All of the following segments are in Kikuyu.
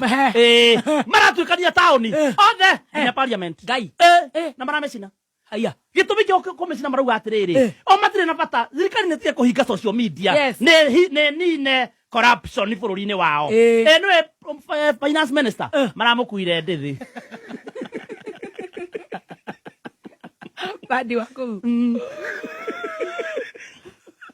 Ehe. Eh, maratuĩkania taũni Eh. othe nginya parliament ngai Eh, Eh. na maramecina aya gĩtũmi kĩa kũ- kũmecina marauga atĩrĩrĩ Eh. o matirĩ na bata thirikari nĩ tige kũhinga social media Yes. nĩ hi- nĩ nine corruption bũrũri-inĩ wao Eh. Eh, nĩwe um, f- eh, finance minister Eh. maramũkuire ndĩthĩ bandi wa kũu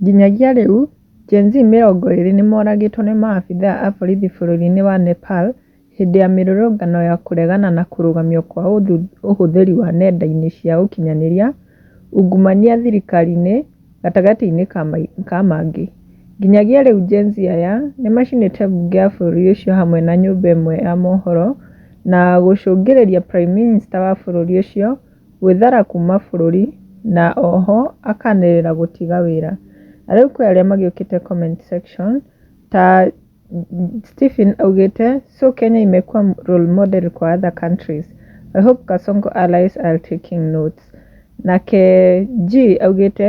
Nginyagia rĩu, Gen-Z mĩrongo ĩrĩ nĩmoragĩtwo nĩ maabithaa a borithi bũrũri-inĩ wa Nepal hĩndĩ ya mĩrũrũngano ya kũregana na kũrũgamio kwa ũhũthĩri wa nenda-inĩ cia ũkinyanĩria ungumania thirikari-inĩ gatagatĩ-inĩ ka mangĩ. Nginyagia rĩu Gen-Z aya nĩmacinĩte mbunge ya bũrũri ũcio hamwe na nyũmba ĩmwe ya mohoro na gũcũngĩrĩria Prime Minister wa bũrũri ũcio Gwĩthara kuuma bũrũri na oho akanĩrĩra gũtiga wĩra. Na rĩu kwĩ arĩa magĩũkĩte comment section ta Stephen augĩte so Kenya imekuwa role model kwa other countries. I hope Kasongo allies are taking notes. Nake G augĩte